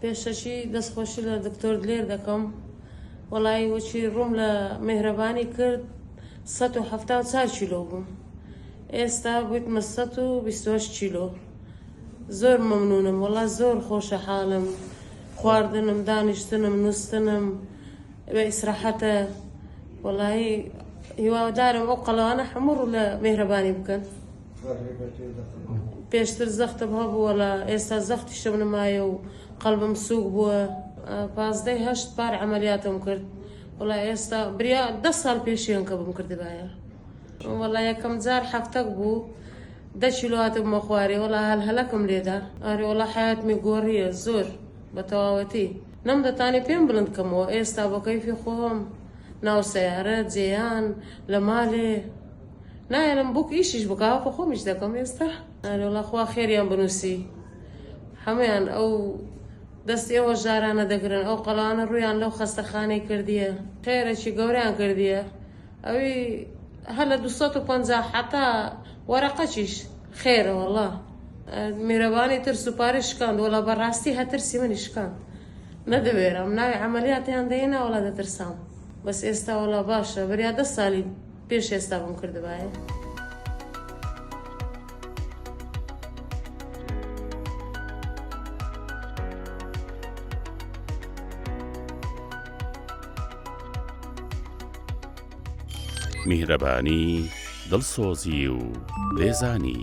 پێشەکی دەست خۆشی لە دکتۆر دلێر دەکەم وەڵایی وەچی ڕووم لە مهرەبانی کرد 1970 کیلۆ بووم ئێستا بوویتمە 120 کیلۆ زۆر مەمنونم وەڵا زۆر خۆشە حاڵم خواردنم دانیشتنم نووسنم بە ئیسراحەتە وەڵایی هیوادارم ئەو قەڵانە هەموو ڕوو لە مهرەبانی بکەن پێشتر زەختم هەبووە لە ئێستا زەختیشم نمایە و قەلبم سووک بووە پازدەی هەشت پار ئەمەلیاتم کرد وڵا ئێستا بریا ده ساڵ پێشیان کە بم کردبایە وڵا یەکەم جار هەفتەک بوو دە کیلواتم مەخوارێ وڵا هەل هەلەکم لێدا ئەرێ وڵا حیاتمی گۆڕیە زۆر بە تەواوەتی نەم دەتانێ پێم بلند کەمەوە ئێستا بەکەیفی خۆم ناو سەیارە جێیان لە مالێ نایەنم بوک ئیشیش بکا وەکو خۆمیش دەکەم ئێستا ئەرێ وەڵا خوا خێریان بنووسی هەمویان ئەو دەستی ئەوە ژارانە دەگرن ئەو قەڵانە ڕویان لەو خەستەخانەی کردیە قێرەی گەوریان کردیە ئەوی هە لە 250 حتا وەرەقەچیش خێرە وەڵا میرەبانی تر سوپاری شکاند وەڵا بەڕاستی هەترسی منی شکاند نەدەوێرم ناوی عملیاتیان دەینا وەڵا دەترسام بەس ئێستا وەڵا باشە بریا دە سالی پێش ئێستا بم کردبایە. میهرەبانی دڵسۆزی و لێزانی